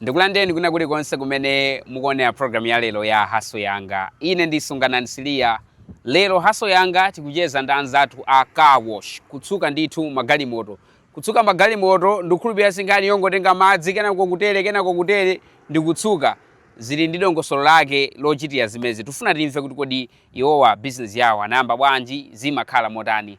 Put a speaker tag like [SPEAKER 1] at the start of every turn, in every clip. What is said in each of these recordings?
[SPEAKER 1] ndikulandireni kwina kulikonse kumene mukuonera programu ya lero ya haso yanga ine ndi sunganani siliya lero haso yanga tikucheza ndi anzathu a car wash kutsuka ndithu magalimoto kutsuka magalimoto ndikukhulupirira si nkhani yongotenga madzi kenako kutere kenako kutere ndikutsuka zili ndi dongosolo lake lochitira zimezi tifuna timve kuti kodi iwowa bizinesi yawo anayamba bwanji zimakhala motani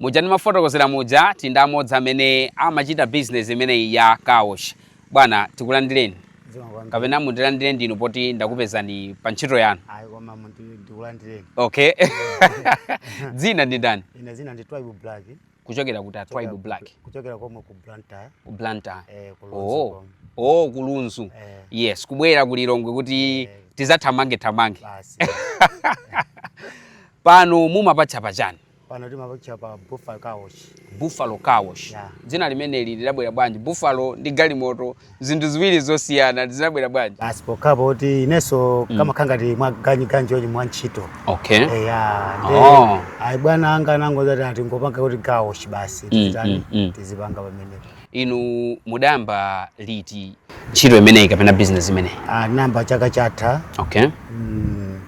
[SPEAKER 1] Muja ndimafotokozera muja tindi amodzi amene amachita business imeneyi ya car wash. Bwana, tikulandireni kapena mundilandire inu poti ndakupezani pa ntchito yanu. Ayi koma munthu
[SPEAKER 2] ndikulandireni. Okay.
[SPEAKER 1] Dzina ndi ndani? Ine dzina ndi Twaibu
[SPEAKER 2] Black. Kuchokera
[SPEAKER 1] kuti Twaibu Black. Kuchokera komwe
[SPEAKER 2] ku Blantyre. Ku
[SPEAKER 1] Blantyre. Eh, ku
[SPEAKER 2] Lunzu. Oh. Oh,
[SPEAKER 1] ku Lunzu. Eh. Yes, kubwera ku Lilongwe kuti eh. tizathamange thamange. Basi. Pano mumapatcha pachani? pano timapatcha
[SPEAKER 2] pa buffalo car wash buffalo car
[SPEAKER 1] wash yeah. dzina limeneli lidabwera bwanji buffalo ndi galimoto zinthu ziwiri zosiyana zinabwera bwanji basi pokhapo kuti
[SPEAKER 2] inenso mm. kamakhala ngati mwaganyiganji ochi mwa ntchito okay. Eh,
[SPEAKER 1] ya ndi oh.
[SPEAKER 2] ayi bwana anga anangozati ati ngopanga kuti car wash basi mm, mm, mm. tizipanga pamenepo
[SPEAKER 1] Inu mudayamba liti ntchito imeneyi kapena business imeneyi? Ah, nayamba chaka chatha
[SPEAKER 2] Okay.
[SPEAKER 1] mm,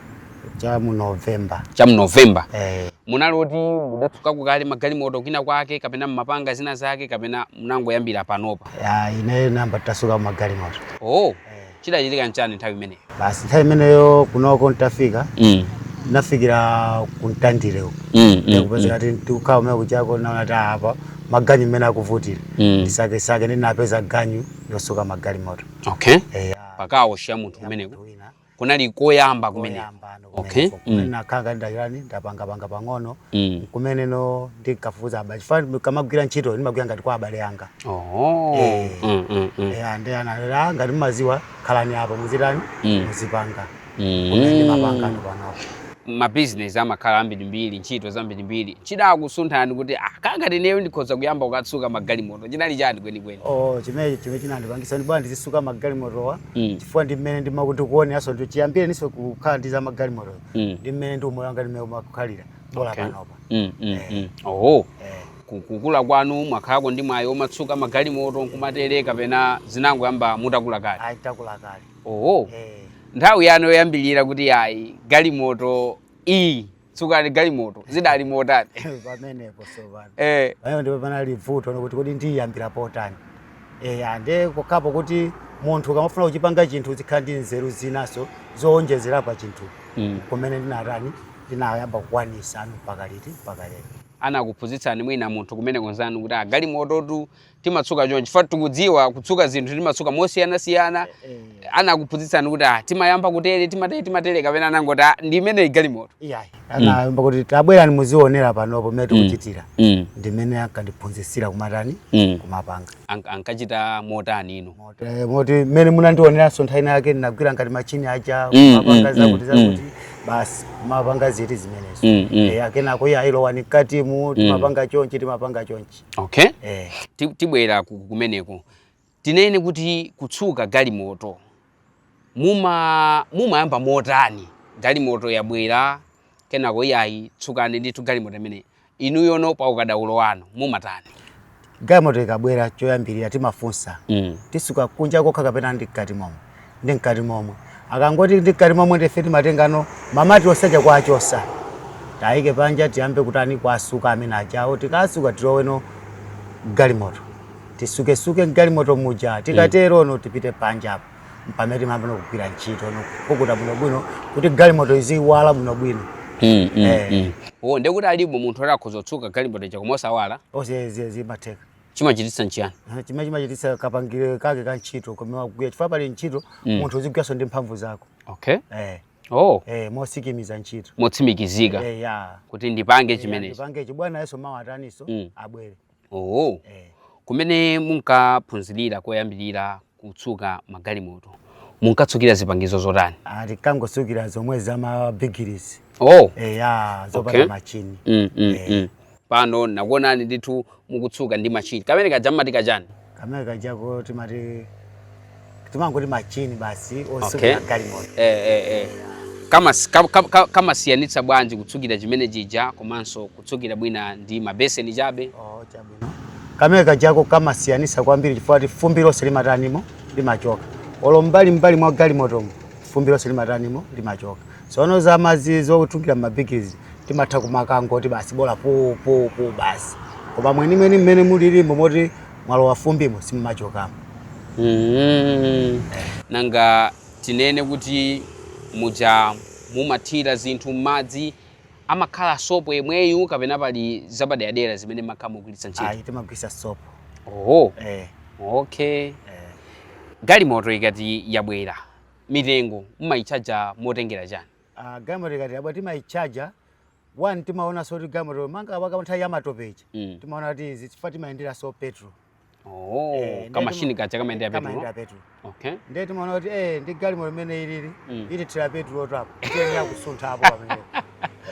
[SPEAKER 2] cha mu November. Cha mu November.
[SPEAKER 1] Eh, Munali oti mudatsuka ku kale magalimoto kwina kwake kapena mmapanga zina zake kapena munangoyambira panopa? ah, ineyo nayamba
[SPEAKER 2] ntatsuka magalimoto. Oh, Eh,
[SPEAKER 1] Chidachitika nchani nthawi imeneyo? Basi nthawi
[SPEAKER 2] imeneyo kunoko ntafika Mm. nafikira ku Mtandire uko Mm. Mm. kupeza kuti tikukhala kumene kuchako naona kuti ah, apa maganyu mmene akuvutira Mm. ndisakesake ndinapeza ganyu yosuka magalimoto Okay. Eh, ah,
[SPEAKER 1] Pa car wash ya munthu kumeneko. wina. Kunali koyamba kumeneko. Oyamba ano. Okay. kumeneko. Kumene Mm. nakhala
[SPEAKER 2] ngati ndachitani ndapangapanga pang'ono Mm. kumeneko ndinkafufuza abale chifukwa kamagwira ntchito ndimagwira ngati kwa abale anga Oh. Eh. Mm, mm, mm. eya ndi analera ngati mumaziwa khalani apo muzitani Mm. muzipanga Mm. kumene ndimapanga ndi panopo
[SPEAKER 1] mabizinesi amakhala ambirimbiri ntchito zambirimbiri chidakusunthani kuti "Ah, ngati ineyo ndikhoza kuyamba kukatsuka magalimoto chinali chani kwenikweni Oh, chimene chimene
[SPEAKER 2] chinandipangisa ndi bwana ndizisuka magalimotowa Mm. chifukwa ndi mmene ndima- ndikuoneranso ndi chiyambireninso kukhala ndi za magalimoto Mm. ndi mmene ndi umoyo wanga ndimene umakhalira bola Okay. panopa Mm, mm, mm. Oho. Eh. Ku- kukula kwanu mwakhalako ndi mwayi womatsuka magalimoto nkumatere kapena zinangoyamba mutakula kale ayi takula kale oho Eh.
[SPEAKER 1] nthawi yanu yoyambirira kuti ayi galimoto iyi tsukani galimoto zidali motani
[SPEAKER 2] pamenepo zoona eh pamene ndipo panali vuto nkuti kodi ndiyambira potani eh ande pokhapo kuti munthu ukamafuna kuchipanga chinthu zikhala ndi nzeru zinaso zowonjezera pa chinthu Mm. kumene ndinatani ndinayamba kukwanisa anu mpaka liti mpaka lero anakuphunzitsani
[SPEAKER 1] mwina munthu kumeneko nzanu kuti ah galimototu timatsuka chonchi chifukwa tikudziwa kutsuka zinthu timatsuka mosiyanasiyana eh, eh. anakuphunzitsani kuti ah, timayamba kutere timatere timatere kapena anangoti ah, ndi imene galimoto iyayi mm. anayamba
[SPEAKER 2] mm. kuti tabwerani muzionera panopo mmene mm. tikuchitira mm. mm. ndi mmene ankandiphunzitsira kumatani mm. kumapanga ankachita
[SPEAKER 1] motani ino eh, moti
[SPEAKER 2] mmene munandioneranso nthawi yake ndinagwira ngati machini aja mm, mm, kumapanga mm, zakuti zakuti mm. basi kumapanga ziti zimenezo mm, mm. e, akenako iyayi lowani mkatimu timapanga mm. chonchi timapanga chonchi okay
[SPEAKER 1] eh. tibwera kumeneko tinene kuti kutsuka galimoto muma mumayamba motani galimoto yabwera kenako iyayi tsukani ndithu galimoto imeneyi inuyono pa ukadaulo wanu mumatani galimoto
[SPEAKER 2] ikabwera choyambirira timafunsa mm. titsuka kunja kokha kapena ndi mkati momwe ndi mkati momwe akangoti ndi mkati momwe ndife timatengano mamati onse aja kuwachotsa tiayike panja tiyambe kutani kuwatsuka amene ajawo tikatsuka tiloweno m'galimoto titsuketsuke mgalimoto muja tikaterono tipite panja apo mpamene timayamba no kugwira ntchito no kupukuta bwinobwino kuti galimoto iziwala bwinobwino Mm, mm, Eh. mm. Oh, ndekuti
[SPEAKER 1] alipo munthu oti akhoza kutsuka galimoto ija koma osawala eetu zimatheka chimachititsa nchiyani Ah, chimene
[SPEAKER 2] chimachititsa kapangire kake ka ntchito komwe akugwirira chifukwa pa ntchito Mm. munthu uzigwiranso ndi mphamvu zako okay eh, oh eh, motsimikiza ntchito motsimikizika eh,
[SPEAKER 1] ya kuti ndipange Eh, chimenechi ndipangechi bwanayunso
[SPEAKER 2] mawa ataninso Mm. abwere oh eh.
[SPEAKER 1] kumene munkaphunzirira koyambirira kutsuka magalimoto munkatsukira zipangizo zotani Ah,
[SPEAKER 2] tinkangotsukira zomwe za mabigiri izi oh eya zopanda Okay. machini mm, mm, Eh. mm.
[SPEAKER 1] pano nakuonani ndithu mukutsuka ndi machini kamene kaja mmati kachani kamene
[SPEAKER 2] kajako timati timangoti machini basi Okay. otsukira galimoto eh, eh, eh. Kamas- ka-
[SPEAKER 1] ka- ka- kamasiyanitsa bwanji kutsukira chimene chija komanso kutsukira bwina ndi mabeseni chabe Oh, chabe.
[SPEAKER 2] kamene kajako kamasiyanisa kwambiri chifukwa choti fumbi lonse limatanimo limachoka olo mbali mbali mwa galimotomo fumbi lonse limatanimo limachoka sono za madzi zotungira m'mabigiri izi timatha kumakangoti basi bola pupupupu basi koma mwenimweni mmene muli limbe moti mwalowa fumbimo simumachokamo
[SPEAKER 1] Mhm. nanga tinene kuti muja mumathira zinthu m'madzi amakhala sopo yemweyu kapena pali zapaderadera zimene mumakhala mukugwiritsa ntchito ayi timagwiritsa sopo
[SPEAKER 2] oho eh, okay
[SPEAKER 1] eh. galimoto ikati yabwera mitengo mumayitchaja motengera chani Ah, galimoto ikati
[SPEAKER 2] yabwera timayitchaja one timaonanso kuti galimoto monga pakanthawi yamatopeyi mm. timaona kuti chifukwa timayendera so petrol Oh, Eh,
[SPEAKER 1] nde kamashini timu- kaja kamayendera kamayendera petulo petulo okay ndiye
[SPEAKER 2] timaona kuti eh ndi galimoto limene ilili Mm. ithira petulo tapo tiyenera kusuntha apo pamene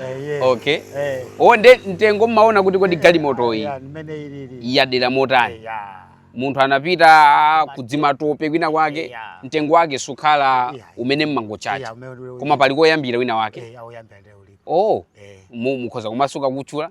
[SPEAKER 2] Eh, yes. Okay. Eh.
[SPEAKER 1] o nde mtengo mmaona kuti kodi galimotoyi Yeah, limene ilili yadera motani Yeah. munthu anapita kuzimatope kwina kwake Yeah. mtengo wake sukhala Yeah. umodzi Yeah, mmangotchaja umene uli- koma pali koyambira wina wake Eh, oyambira ndiye ulipo oh Eh. mu- mukhoza kumasuka kutchula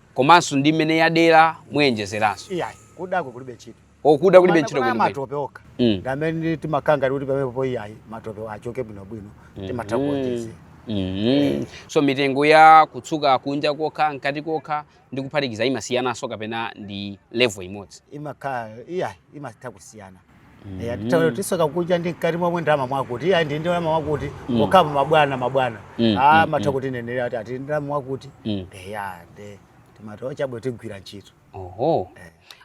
[SPEAKER 1] komanso ndi mmene yadera muonjezeranso iyayi kudako
[SPEAKER 2] kulibe ntchito kuda kulibe Komano ntchito
[SPEAKER 1] kuna kwenikweni matope okha
[SPEAKER 2] Mm. ndi amene timakhala ngati kuti pamenepo iyayi matope achoke bwinobwino timatha kuonjezera
[SPEAKER 1] Mhm. so mitengo ya kutsuka kunja kokha mkati kokha ndi kuphatikiza imasiyananso kapena ndi level imodzi imakhala iyayi
[SPEAKER 2] imatha kusiyana Eh, ati tawe tisuka kunja ndi mkati momwe ndalama mwakuti iya ndi ndalama mwakuti okhapo mabwana mabwana Mm, ah mm, matha kutinenera ati ati ndalama mwakuti Mm. eya nde timatola chabe tigwira ntchito oho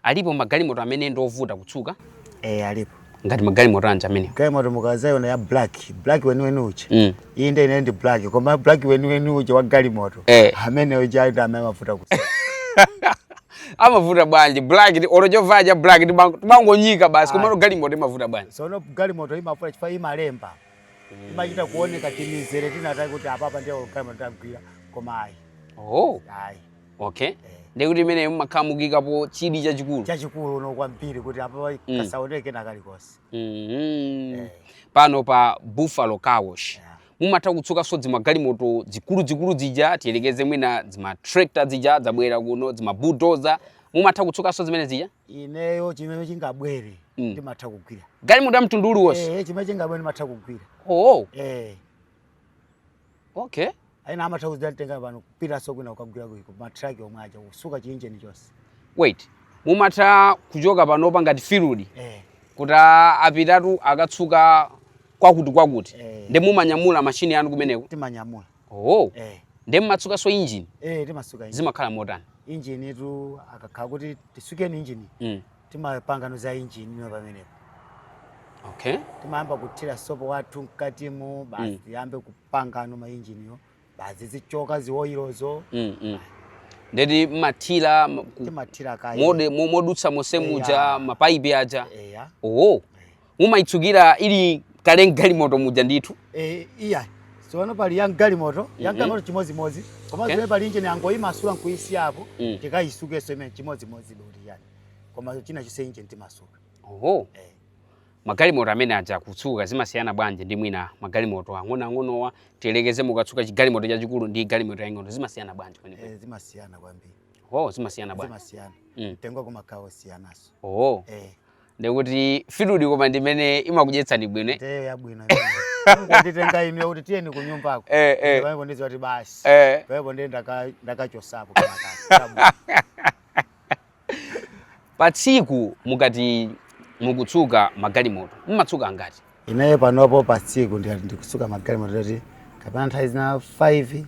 [SPEAKER 1] alipo magalimoto amene ndi ovuta kutsuka eh
[SPEAKER 2] alipo ngati
[SPEAKER 1] magalimoto anji amene galimoto mukazayiona
[SPEAKER 2] ya black black weniweni uja Mm. iyi nde ine ndi black koma black weniweni uja wa galimoto Eh. amene uja ndi amene amavuta kusuka
[SPEAKER 1] amavuta bwanji black ndi olo chovala cha black ndi bang- timangonyika basi komano galimoto imavuta bwanji sono galimoto imavuta
[SPEAKER 2] chifukwa imalemba imachita kuoneka timizere tinazake kuti apapa ndiyo galimoto tagwira koma ayi oh ayi
[SPEAKER 1] okay nde kuti imeneyo mumakhala mukuikapo chidi chachikulu chachikulu
[SPEAKER 2] ndithu kwambiri kuti apapa Mm. kasaoneke na kalikonse Mhm. pano
[SPEAKER 1] pa buffalo car wash mumatha kutsukanso zimagalimoto zikuluzikulu zija tiyerekeze mwina zimatrekta zija zabwera kuno zimabudoza mumatha kutsukanso zimene zija ineyo chimene
[SPEAKER 2] chingabwere mm. ndimatha mm. kugwira galimoto ya mtundu uliwonse
[SPEAKER 1] eh, chimene chingabwere ndimatha
[SPEAKER 2] kugwira oo oh. eh. okay ena amatha kuzatitenga pano kupitanso kwina kukagwira komweko matraki omwe aja kusuka chiinjeni chonse wait
[SPEAKER 1] mumatha kuchoka panopa ngati field eh. kuti apitatu akatsuke kwakuti kwakuti Eh. nde mumanyamula mashini yanu kumeneko timanyamula oh eh nde mumatsukanso injini eh timasuka injini zimakhala
[SPEAKER 2] motani
[SPEAKER 1] injinitu
[SPEAKER 2] akakhala kuti tisukeni injini mm. timapangano za injini yo pamenepo okay timayamba kuthira sopo wathu mkatimo basi Mm. tiyambe kupangano mainjiniyo basi zichoka ziwoyilozo mm,
[SPEAKER 1] mm. nde kuti mmathira m- ku- timathira
[SPEAKER 2] kaye mode- mo- modutsa monse
[SPEAKER 1] muja Eya. mapaipi aja eya oho mumayitsukira ili kale mgalimoto muja ndithu Eh,
[SPEAKER 2] iya sono pali ya mgalimoto ya mgalimoto chimodzimodzi koma Okay. zimene pali injini angoyimasula nkuyisiyapo Mm. tikayisukeso imeneyo chimodzimodzi beuti yani koma china chilichonse injini timasuka oho Eh.
[SPEAKER 1] Magalimoto amene aja kutsuka zimasiyana bwanji ndi mwina magalimoto ang'onoang'onowa? Tiyerekeze mukatsuka chigalimoto chachikulu ndi galimoto yaing'ono zimasiyana bwanji kwenikweni? Eh, zimasiyana kwambiri.
[SPEAKER 2] Oh, zimasiyana bwanji?
[SPEAKER 1] Zimasiyana. Mm. Mtengo
[SPEAKER 2] umakhala wosiyananso. Oh.
[SPEAKER 1] Eh. Ndikuti field koma
[SPEAKER 2] ndi
[SPEAKER 1] imene imakudyetsani bwino. eh? Ndeyo
[SPEAKER 2] yabwino. Nditenga ine kuti tiyeni ku nyumbako. Eh, eh. Ndipo ndiziwa kuti basi. Eh. Ndipo ndenda ndakachosapo kenakake.
[SPEAKER 1] pa tsiku mukati mukutsuka magalimoto mumatsuka angati ineyo panopo pa
[SPEAKER 2] tsiku ndikati ndikutsuka magalimoto toti kapena nthawi zina 5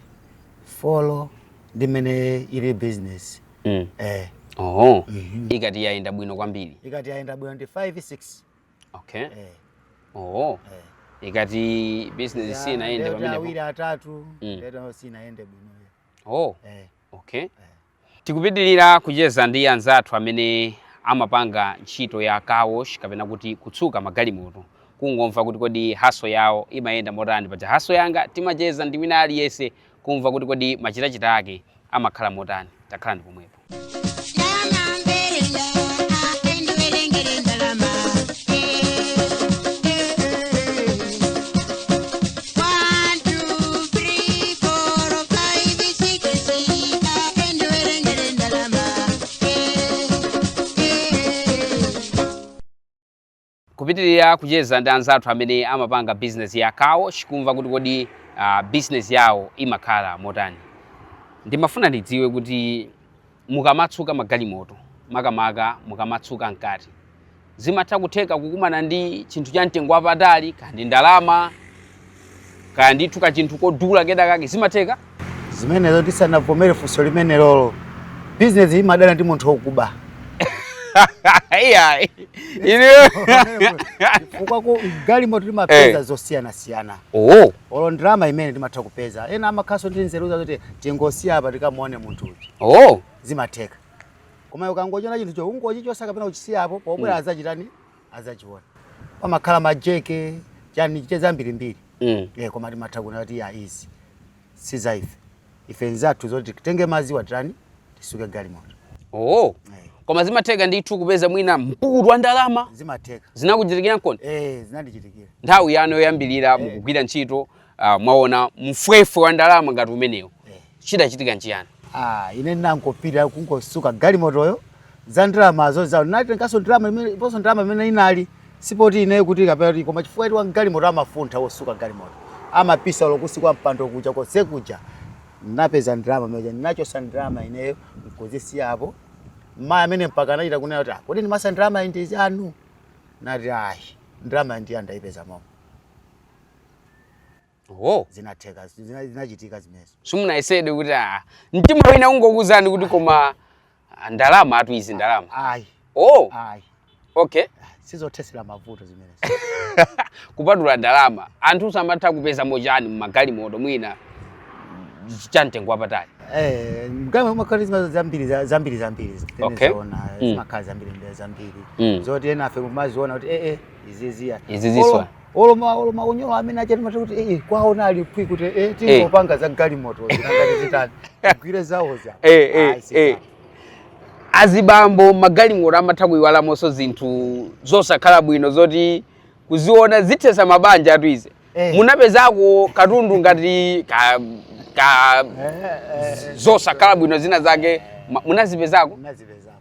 [SPEAKER 2] 4 ndi mmene ili business mm. eh oho
[SPEAKER 1] ikati yayenda bwino kwambiri ikati yayenda bwino ndi 5 6
[SPEAKER 2] okay
[SPEAKER 1] eh oho ikati business sinayende Lero ndi pamenepo awiri atatu Mm.
[SPEAKER 2] lero sinayende bwino oh eh okay
[SPEAKER 1] Tikupitilira kucheza ndi anzathu amene amapanga ntchito ya car wash kapena kuti kutsuka magalimoto kungomva kuti kodi hustle yawo imayenda motani paja hustle yanga timacheza ndi wina aliyense kumva kuti kodi machitachita ake amakhala motani takhalani pomwepo. kupitirira kucheza ndi anzathu amene amapanga bizinesi ya car wash kumva kuti kodi uh, bizinesi yawo imakhala motani ndimafuna ndidziwe kuti mukamatsuka magalimoto makamaka mukamatsuka mkati zimatha kutheka kukumana ndi chinthu cha mtengo wapatali kaya ndi ndalama kaya ndithu kachinthu kodula kedakake zimatheka
[SPEAKER 2] zimenezo tisanavomere funso limenelolo bizinesi imadana ndi munthu
[SPEAKER 1] wokuba iyayi ine chifukwa
[SPEAKER 2] mu galimoto timapeza Eh. zosiyanasiyana oh olo ndalama imene timatha kupeza ena amakhaso ndi nzeru za kuti tingosiya apa tikamuone munthu uja oh zimatheka koma ukangochiona chinthucho ungochichosa kapena uchisiyapo pobwera adzachitani adzachiona pamakhala majeke chani chite zambirimbiri mm. eh, koma timatha kuona kuti ya izi si za ife ife nzathu zoti titenge madziwa tani tisuke galimoto oh
[SPEAKER 1] Eh. koma zimatheka ndithu kupeza mwina mpukutu wa ndalama zimatheka
[SPEAKER 2] zinakuchitikirankoni eh
[SPEAKER 1] zinandichitikira
[SPEAKER 2] nthawi
[SPEAKER 1] yanu yoyambirira mukugwira ntchito uh, mwaona mfwefwe wa ndalama ngati umenewo Eh. chidachitika nchiyani ah ine
[SPEAKER 2] ndinangopita kungosuka galimotoyo za ndalamazo za natenganso ndalama imene ndiponso ndalama imene inali si poti ineyo kuti kapena kuti koma chifukwa choti wa galimoto amafuntha wosuka galimoto amapisa olo kunsi kwa mpando kuja konse kuja napeza ndalama muja nachosa ndalama ineyo nkuzisiya apo mmayi amene mpaka anachita kunena kuti "Ah, kodi ndimayesa ndalamayi ndi yanu nati ayi ndalamayi ndinayipeza momo Oho. zinatheka zina- zinachitika zimenezo simunayesedwe kuti
[SPEAKER 1] ah, mtima wina kungokuuzani kuti koma ah, ndalamatu izi ndalama ayi oh ayi okay sizothesera
[SPEAKER 2] mavuto zimenezo kupatula
[SPEAKER 1] ndalama anthu samatha kupezamo chani mumagalimoto mwina cha mtengo wapatali Eh,
[SPEAKER 2] mgalimoto mumakhala zima- zambiri za- zambiri zambiri Okay. timaziona Mm. zimakhala zambiri ndi zambiri Mm. zoti enafe kumaziona kuti ee iziziya Izi ziswa. olo ma olo maunyolo amene aja timati kuti eh kuwaona ali phwi kuti eh tingopanga za galimoto zikangati zitani gwire zawoza eh eh Ayi, zitani.
[SPEAKER 1] eh azibambo magalimoto amatha kuyiwalamonso zinthu zosakhala bwino zoti kuziona zithesa mabanjatu izi Eh. munapezako katundu ngati ka, ka Eh, eh, zosakhala bwino zina zake ma- munazipezako nazipezako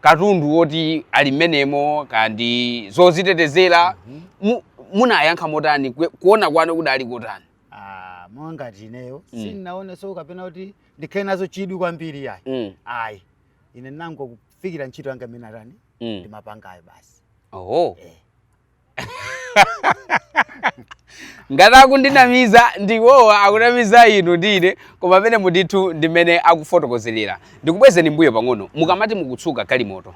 [SPEAKER 1] katundu woti ali mmenemo kaya ndi zozitetezera mu- munayankha motani Kue- kuona kwanu kudali kotani Ah, monga ngati
[SPEAKER 2] ineyo Mm. sindinaoneso kapena kuti ndikhale nazo chidwi kwambiri ayi Mm, ayi ine ndinangokufikira ntchito yanga imene atani mm. ndimapangayo basi oho Eh.
[SPEAKER 1] ngati akundinamiza ndi awowa akunamiza inu ndi ine koma mmenemu ndithu ndi mmene akufotokozerera ndikubwezeni mbuyo pang'ono mukamati mukutsuka galimoto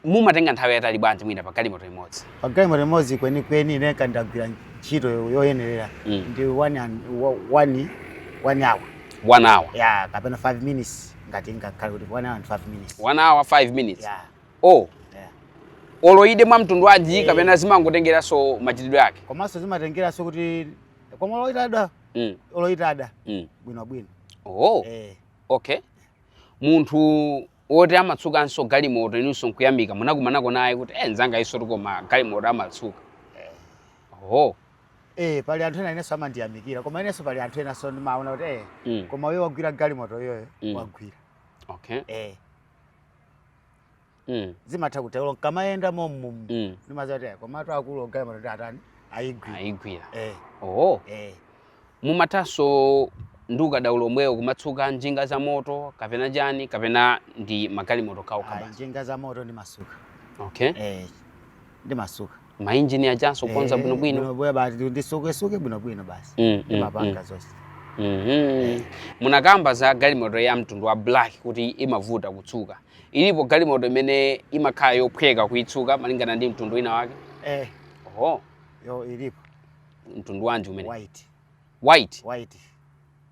[SPEAKER 1] mumatenga nthawi yaitali bwanji mwina pa galimoto imodzi pa galimoto
[SPEAKER 2] imodzi kwenikweni ine ndikagwira ntchito yoyenerera mm. ndi one, one, one hour one hour yeah, kapena five minutes ngati ngakhale kuti one hour and five minutes one hour five minutes
[SPEAKER 1] yeah. o olo ide mwa mtundu wanji Eh. kapena zimangotengeranso machitidwe ake komanso zimatengeranso
[SPEAKER 2] kuti koma olo itada mm. olo
[SPEAKER 1] itada mm.
[SPEAKER 2] bwinobwino oh. Eh,
[SPEAKER 1] okay
[SPEAKER 2] munthu
[SPEAKER 1] woti amatsukanso galimoto inunso nkuyamika munakumanako naye kuti e nzanga uyunso koma galimoto amatsuka
[SPEAKER 2] oh. eh, pali anthu ena inenso amandiyamikira koma inenso pali anthu enanso ndimaona kuti eh, mm. koma uyo wagwira galimoto uyoyo Mm. wagwira okay
[SPEAKER 1] eh,
[SPEAKER 2] mm. zimatha kutero nkamayenda mommumu mm. ndimaziwa kuti komatu akuluwo galimoto ndi atani ayigwira ayigwira eh. oh. eh.
[SPEAKER 1] mumathanso ndi ukadaulo omwewo kumatsuka njinga za moto kapena chani kapena ndi magalimoto okhaokha basi njinga za moto ndimasuka
[SPEAKER 2] okay eh, ndimasuka mainjini
[SPEAKER 1] ajanso kukonza Eh, bwinobwino bwinobwino basi
[SPEAKER 2] nditsuketsuke bwinobwino basi Mm, mm, ndimapanga zonse Mhm. munakamba
[SPEAKER 1] za galimoto ya mtundu wa black kuti imavuta kutsuka ilipo galimoto imene imakhala yophweka kuitsuka malingana ndi mtundu wina wake eh oho
[SPEAKER 2] iyo ilipo mtundu wanji
[SPEAKER 1] umene white white white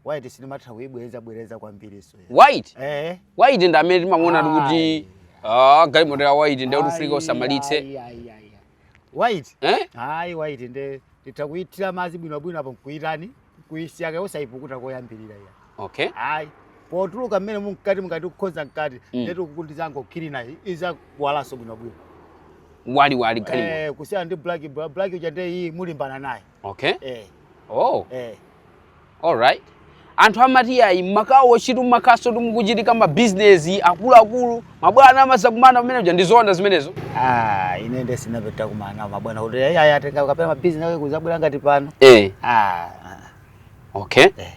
[SPEAKER 2] white sindimatha kuibwereza bwereza kwambirinso ya. white eh
[SPEAKER 1] white ndi amene timamuona Ayi. kuti ah, galimoto ya white ndiye kuti Ayi, ufika usamalitse ayi, ayi,
[SPEAKER 2] ayi, ayi. white eh? hayi white nde titha kuithira madzi bwinobwino apo nkuitani kuisiya kaye usaipukuta koyambirira ya okay hayi potuluka mmene mumkati mukati kukonza mkati Mm. nde tikukadzango cleaner izawalanso bwinobwino
[SPEAKER 1] waliwali galimoto Eh, kusiyana ndi black Bla-
[SPEAKER 2] black uja nde iii mulimbana naye okay eh oh
[SPEAKER 1] eh all right anthu amati ayi m'ma car wash-tu mmakhalanso mukuchitika mabizinesi akuluakulu mabwana amazakumana pamene uja ndi zoona zimenezo ah ine nde
[SPEAKER 2] sinapate kukumana nawo mabwana kuti ayi ayi atenga kapena mabizinesi ake kuzabwera ngati pano eh ah okay Eh.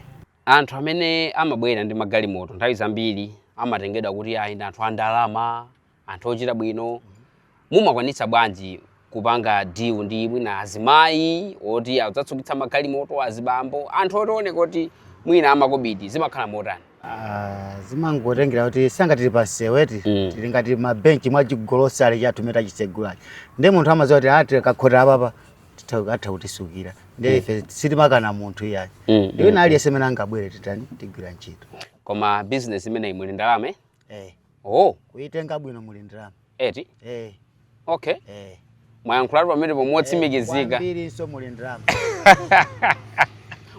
[SPEAKER 2] anthu amene amabwera ndi magalimoto nthawi zambiri amatengedwa kuti ayi ndi anthu a ndalama anthu ochita bwino mumakwanitsa bwanji kupanga deal ndi mwina azimayi oti adzatsukitsa magalimoto azibambo anthu otioneka kuti mwina amakobidi zimakhala motani Ah, zimangotengera kuti chifukwa tili pamsewu eti Mm. tili ngati mabenchi mwa chigolosale chathu chatsegulachi ndi munthu amadziwa kuti a tikakhota apapa titha- atha kutitsukira ndi ife sitimakana munthu iyayi Mm, ndi wina aliyense amene angabwere titani tigwira ntchito koma business
[SPEAKER 1] imeneyi muli ndalama eh? eh
[SPEAKER 2] oh kuitenga bwino muli ndalama
[SPEAKER 1] eti eh okay eh mwayankhulatu pamenepo motsimikizika kwambirinso muli
[SPEAKER 2] ndalama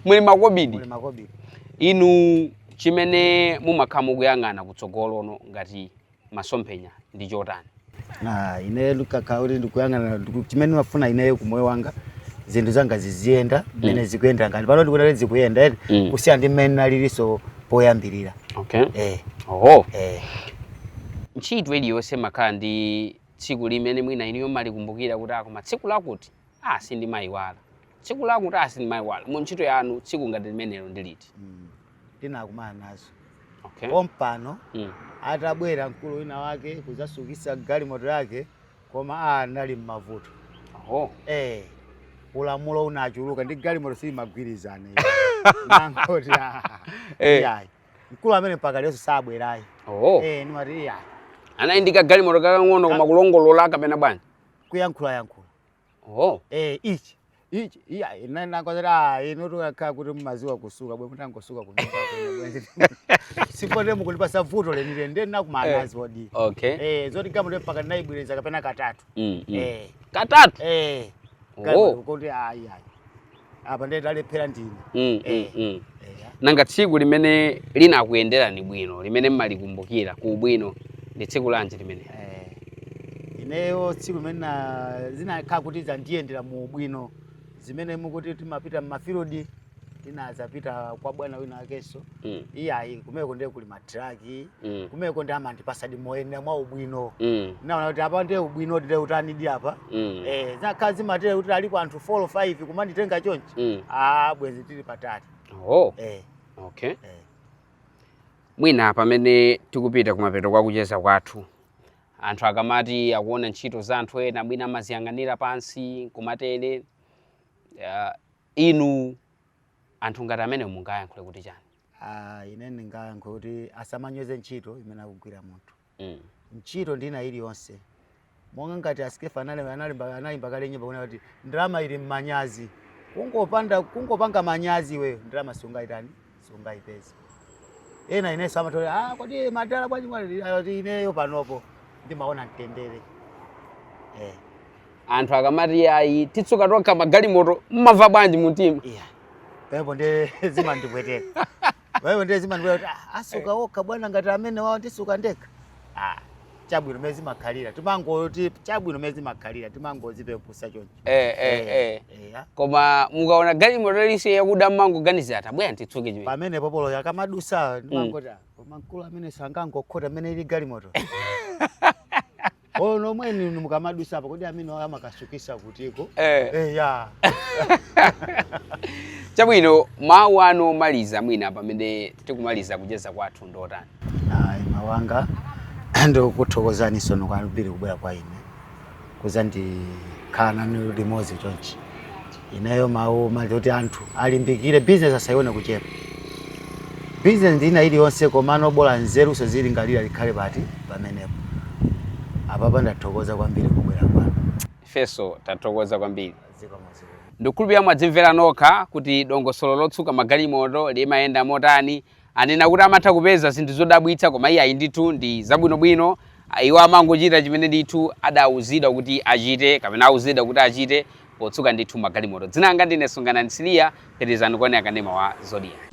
[SPEAKER 1] muli makobidi muli makobidi inu chimene mumakhala mukuyang'ana kutsogoloku ngati masomphenya ndi chotani
[SPEAKER 2] ine nkakhala kuti ndikuyang'ana ndiku- chimene ndimafuna ineyo ku moyo wanga zinthu zanga ziziyenda mmene zikuyenda ngati pano ndikuona kuti zikuyenda eh Mm. kusiyana ndi mmene nalilinso poyambirira okay eh, oho eh. ntchito iliyonse imakhala ndi tsiku limene mwina inuyo mumalikumbukira kuti ah koma tsiku lakuti ah sindimayiwala tsiku lakuti ah sindimayiwala mu ntchito yanu tsiku ngati limenelo ndi liti Mm. ndinakumana nazo Okay. pompano Mm. atabwera mkulu wina wake kudzatsukitsa galimoto yake koma a anali m'mavuto Oh. eh ulamulo unachuluka ndi galimoto sizimagwirizana iyo. nangoti ah, Eh. iyayi mkulu amene mpaka lero sabwerayi Oh. eh nimati iyayi Anali
[SPEAKER 1] ndi kagalimoto kakang'ono koma kulongolola kapena bwanji? kuyankhula yankhula
[SPEAKER 2] Oh. Eh, ichi. Ichi. Iya, ine n'nakonzera inetu kukakhala kuti mumadziwa kusuka bwe mutangosuka kunyumba kwanu bwenzi. Sipomwe mukulipatsa vuto lenileni ndinakumana nazo zoti. Okay. Eh, zoti galimoto mpaka naibwiriza kapena katatu. Mm, mm. Eh. Katatu.
[SPEAKER 1] Eh. Oh.
[SPEAKER 2] Kama kuti ayi ayi. apa ndiye talephera ndine mm, mm, Eh. mm. Eya.
[SPEAKER 1] nanga tsiku limene linakuyenderani bwino limene mumalikumbukira ku ubwino ndi tsiku lanji limene Eh,
[SPEAKER 2] ineyo tsiku limene na- zinakhala kuti zandiyendera mu ubwino zimene mukuti timapita mmafilidi tinadzapita kwa bwana wina wakenso mm. iyayi kumeko ndiye kuli matraki mm. kumeko ndiye amandipatsadi moyenera mwa ubwino mm. naona kuti apa ndiye ubwino ndi wotanidi apa mm. eh, zakhala zimatere kuti alipo anthu 4 or 5 kumanditenga chonchi mm. ah, bwenzi tili patali oh. eh. okay.
[SPEAKER 1] eh. mwina pamene tikupita kumapeto kwa kucheza kwathu anthu akamati akuona ntchito za anthu ena mwina amaziyang'anira pansi kumatere uh, inu anthu ngati amenewo mungayankhule kuti chani Ah,
[SPEAKER 2] ine ndingayankhule kuti asamanyoze ntchito imene akugwira munthu mm. ntchito ndi ina iliyonse monga ngati a Skeffa analemba analemba anaimba kale nyimbo kuna kuti ndalama ili mmanyazi kungopanda kungopanga manyazi iweyo ndalama siungaitane siungaipeza ena inenso amatere ah kodi madala bwanji mwati ineyo panopo ndimaona mtendere eh
[SPEAKER 1] anthu akamati ayi titsuka tokha magalimoto mumamva bwanji mumtima iya
[SPEAKER 2] pamenepo ndiye zimandipweteka pamenepo ndiye zimandipweteka kuti "Ah, asuka okha bwana ngati amenewawo ndisuka ndekha Ah, chabwino mmene zimakhalira timangoti chabwino mmene zimakhalira timangodzipepesa choncho eh, eh, eh. iya
[SPEAKER 1] koma mukaona galimoto iliyonse yakuda mumangoganiza atabwera nditsuke chimene pamenepo olo
[SPEAKER 2] ikamadutsa ndimangoti "Ah, koma mkulu ameneyu sangangokhota amene ili galimoto Olo nomwenu inu mukamadutsa apa kodi ameneyu amakasukitsa kutiko? Eh. Eh
[SPEAKER 1] ya. Chabwino mawu anu omaliza mwina pamene tikumaliza kucheza kwathu ndi otani? Ayi mawu
[SPEAKER 2] anga ndikuthokozani tsono kwambiri kubwera kwanu ine kudzakhala nanu limodzi chonchi ineyo mawu omaliza oti anthu alimbikire bizinesi asayione kuchepa bizinesi ndi ina iliyonse komano bola nzeruzo uzilingalira zikhale pati pamenepo apapa ndathokoza kwambiri kubwera kwanu
[SPEAKER 1] ifenso tathokoza kwambiri zikomo zikomo ndikukhulupirira mwadzimverera nokha kuti dongosolo lotsuka magalimoto limayenda motani Anena kuti amatha kupeza zinthu zodabwitsa koma iyayi ndithu ndi zabwinobwino, iwo amangochita chimene ndithu adauzidwa kuti achite kapena auzidwa kuti achite potsuka ndithu magalimoto. Dzina langa ndine Sunganani Nsiliya, pitirizani kuonera kanema wa Zodiak.